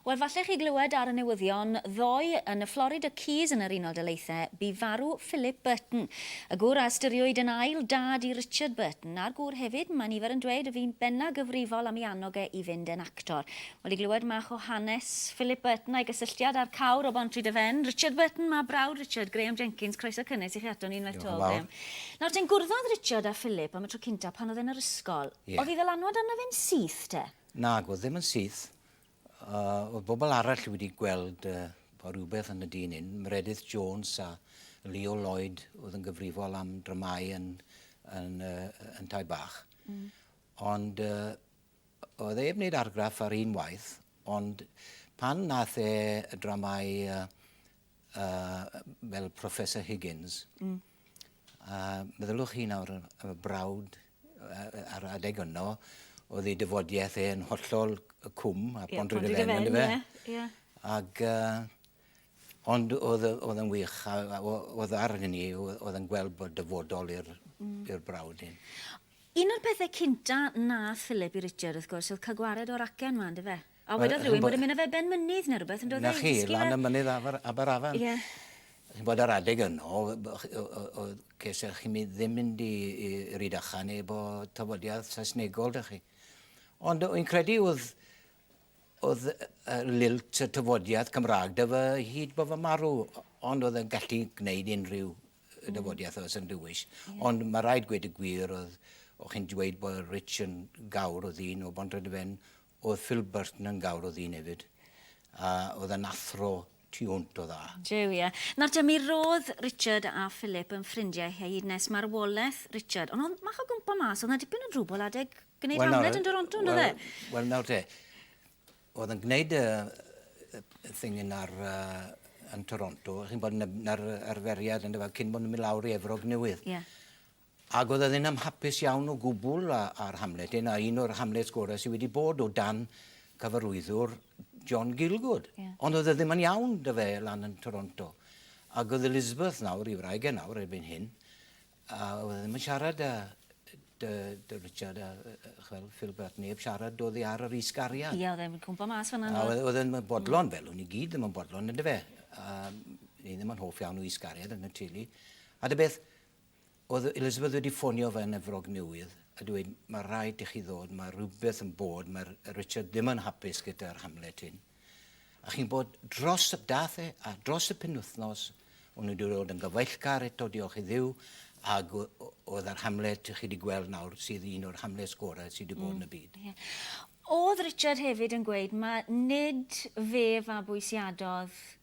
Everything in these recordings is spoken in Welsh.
Wel, falle chi glywed ar y newyddion ddoe, yn y Florida Keys yn yr Unol Daleithiau, bu farw Philip Burton, y gŵr a ystyriwyd yn ail dad i Richard Burton, a'r gŵr hefyd, mae nifer yn dweud, y fu'n benna gyfrifol am ei annog e i fynd yn actor. Wel, i glywed mach o hanes Philip Burton a'i gysylltiad â'r cawr o Bontrhydyfen, Richard Burton, mab brawd Richard, Graham Jenkins, croeso cynnes i chi ato ni unwaith 'to, Graham. Nawr ten, gwrddodd Richard â Philip am y tro cynta pan oedd e'n yr ysgol. Ie. Oedd 'i ddylanwad arno fe'n syth te? Nag oedd, ddim yn syth. A oedd bobl arall wedi gweld uh, bod rhywbeth yn y dyn hyn, Meredith Jones a Leo Lloyd oedd yn gyfrifol am dramau yn, yn, uh, yn Tai Bach. Mm. Ond uh, oedd ei wneud argraff ar un waith, ond pan nath e y dramau uh, uh, fel Professor Higgins, mm. A meddyliwch chi nawr am y brawd a'r adeg yno, oedd ei dyfodiaeth e'n hollol cwm a yeah, pond rydw e'n ynddo fe. Yeah. Ac, uh, ond oedd, oedd yn wych, a, a oedd ar hynny, oedd yn gweld bod dyfodol i'r mm. brawd hyn. Un o'r pethau cynta na Philip i Richard, wrth gwrs, oedd cael gwared o'r acen ma, ynddo fe? A wedodd rhywun bod e'n mynd â fe ben mynydd neu rhywbeth yndoedd e? 'Na chi, lan y mynydd afr- Aberafan. Ie. Chi'n gwbod yr adeg yno oedd ceisiach chi mi- ddim mynd i i Rhydychen efo tafodiaith Saesnegol 'da chi. Ond yy wy'n credu oedd oedd yy y lilt y tafodiaith Cymraeg 'da fy hyd bo fy marw o- ond oedd e'n gallu gwneud unrhyw yy dafodiaith oedd yn dywyll. Ie. Ond ma' raid gweud y gwir oedd o' chi'n dweud bod Rich yn gawr oedd un o Bontrhydyfen Oedd Phil Burton yn gawr o ddyn efyd, a oedd e'n athro tu hwnt o dda. Jiw, ie. Nawr te, mi ro'dd Richard a Philip yn ffrindiau hyd nes marwoleth Richard, ond o'dd mach o gwmpo mas, o'dd 'na dipyn o drwbwl adeg gneud Hamlet yn Doronto, on'd o'dd e? Wel nawr te, o'dd yn gneud y y thing yn ar yy yn Toronto, chi'n 'bod, 'na'r arferiad yndyfe, cyn bo' nw'n myn' lawr i Efrog Newydd. Ie. Ac oedd ydyn am hapus iawn o gwbl a, a'r Hamlet hyn, a un o'r Hamlets gorau sydd wedi bod o dan cyfarwyddwr John Gielgud. Ie. Ond oedd e ddim yn iawn 'da fe lan yn Toronto. Ac oedd Elizabeth nawr, ei wraig e nawr erbyn hyn, a oedd e ddim yn siarad â dy, dy Richard a, chwel, Phil Bert, neb siarad oddi ar yr is-gariad. Ie, oedd e'n cwmpo mas fanna, A oedd, oedd e'n bodlon, mm. fel o'n i gyd ddim yn bodlon, ynddo fe. A ni ddim yn hoff iawn o is-gariad yn y teulu. A dy beth, Oedd Elizabeth wedi ffonio fy Efrog Newydd a dweud mae rhaid i chi ddod, mae rhywbeth yn bod, mae Richard ddim yn hapus gyda'r Hamlet hyn. A chi'n bod dros y dath e, a dros y penwythnos, o'n wedi dod yn gyfeillgar eto, diolch i ddiw, ac oedd yr Hamlet, chi wedi gweld nawr, sydd un o'r Hamlets gorau sydd wedi bod yn y byd. Oedd Richard hefyd yn gweud mae nid fe fabwysiadodd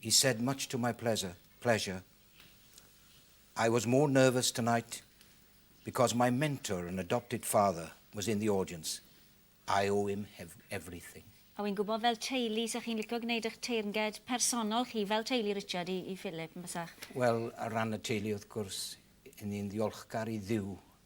He said much to my pleasure, pleasure, I was more nervous tonight because my mentor and adopted father was in the audience. I owe him everything. A wi'n gwybod fel teulu 'sa chi'n licio gwneud eich teyrnged personol chi fel teulu Richard i, i Philip yn bysach? Wel, ar ran y teulu wrth gwrs, 'yn ni'n ddiolchgar i Dduw